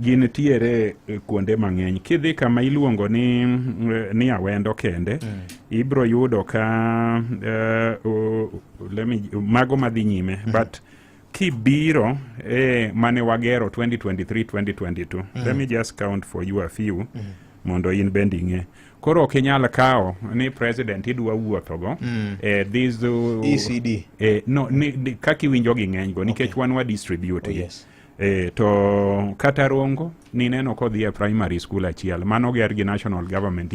gin tiere e, kuonde mang'eny kidhi kama iluongo ni, e, ni awendo kende mm. ibro yudo ka uh, uh, me, mago madhi nyime mm. but kibiro eh, mane wagero 2023 2022 mm. let me just count for you a few mm. mondo in bende ing'e koro ok inyal kawo ni president idwa wuothogo mm. eh, these, uh, ECD. Eh, no, ni, ni, kaka iwinjo gi ng'enygo nikech okay. wan wa distribute oh, yes. E, to kata rongo nineno kodhi e primary school achiel mano ger gi national government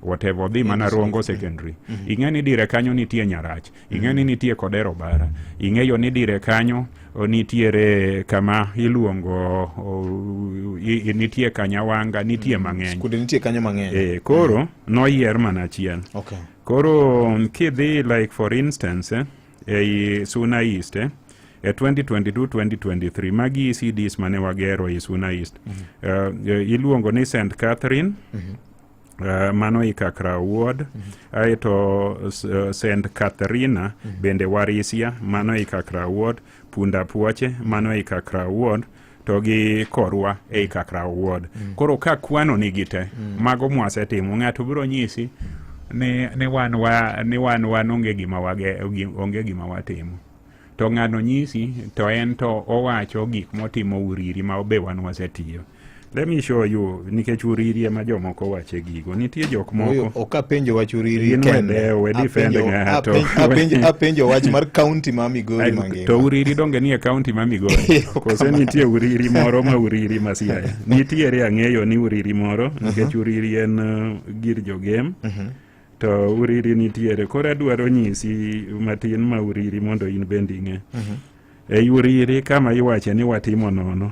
whatever odhi mana rongo secondary mm -hmm. ing'e ni dire kanyo nitie nyarach ing'e mm -hmm. ni nitie kodero bara ing'eyo ni dire kanyo nitiere kama iluongo nitie kanyawanga nitie mm, mang'eny skunde nitie kanyo mang'eny e, koro mm. noyier mana achiel okay. koro kidhi like for instance eh, ei Suna East eh? e 2022-2023 magi ECDs mane wagero ei Suna East mm -hmm. uh, iluongo ni St Catherine mm -hmm. Uh, mano ikakra ward mm -hmm. aeto uh, St Catharina mm -hmm. bende warisia mano ikakra ward punda puoche mano ikakra ward mm to gi korwa ei kakra wuod mm. koro ka kwano nigi te mm. mago mwasetimo ng'ato biro nyisi ni, ni wan wa ni wan wan onge gima wage onge gima watimo to ng'ano nyisi to en to owacho gik motimo uriri ma be wan wasetiyo let me show you nikech uriri ema jomoko wache gi nitie jok moko ok apenjo wach uriri apenjo wach mar kaunti ma migori mangima to uriri donge nie kaunti ma migori kose nitie uriri moro ma uriri ma siaya nitiere ang'eyo ni uriri moro mhm. nikech uriri en uh, gir jogem mhm. to uriri nitiere koro adwaro nyisi matin ma uriri mondo in bende ing'e mhm. Ei Uriri kama iwache ni watimo nono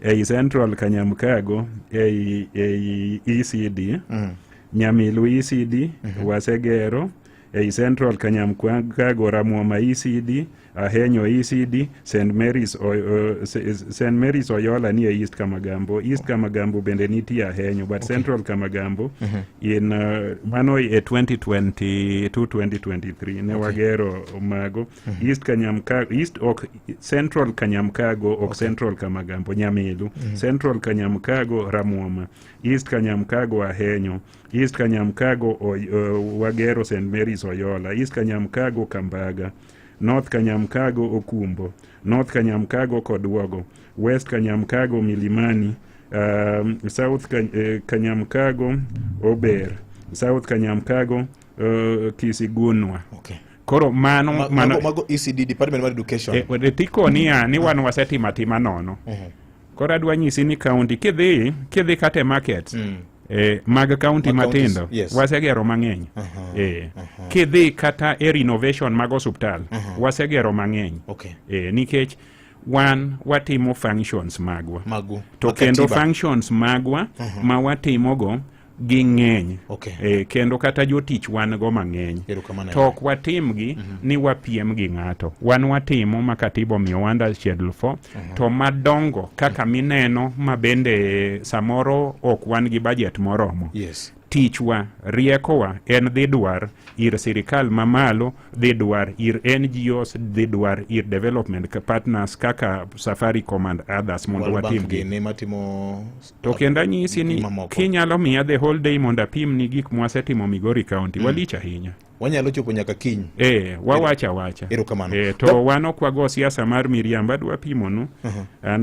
ei Central Kanyamkago ei, ei ECD mm. Nyamilu ECD mm -hmm. Wasegero ei Central Kanyamkago Ramwoma ECD Ahenyo ECD St Mary's, uh, St Mary's Oyola ni e East Kamagambo East Kamagambo bende nitie Ahenyo but okay. Central Kamagambo mm -hmm. in uh, mano e 2022 2023 ne okay. wagero mago mm-hmm. east kanyamkago east ok central kanyamkago ok okay. central kamagambo nyamilu mm-hmm. central kanyamkago ramwoma east kanyamkago ahenyo east kanyamkago uh, wagero st marys oyola east kanyamkago kambaga north kanyamkago okumbo north kanyamkago kodwogo west kanyamkago milimani um, south eh, kanyamkago ober south kanyamkago uh, kisigunwa okay. koro mano ma, mano mago ECD Department of Education e, e tiko niya ni wan wasetimo atima nono mm -hmm. koro adwa nyisi ni county kidhi kidhi kate market mm. Eh, mag county matindo yes. wasegero mang'eny uh -huh. eh, uh -huh. kidhi kata e renovation mag osuptal uh -huh. wasegero mang'eny okay. eh, nikech wan watimo functions magwa Magu. to kendo functions magwa uh -huh. ma watimogo ging'eny okay. e, kendo kata jotich wan go mang'eny to ok watimgi mm -hmm. ni wapiem gi ng'ato wan watimo ma katiba omiyo wanda schedule for mm -hmm. to madongo kaka mhm. mineno ma bende samoro ok wan gi bajet moromo yes. tichwa riekowa en dhi dwar ir sirikal mamalo dhi dwar ir ngos dhi dwar ir development partners kaka safari command others mondo watimgi To kendo anyisi ni kinyalo miya the whole day mondo apim ni gik mwasetimo Migori County mm. walich ahinya wanyalo chopo nyaka kiny e, wawacha wacha erokamano e, to no. wan ok wago siasa mar miriamba dwa pimonu uh -huh.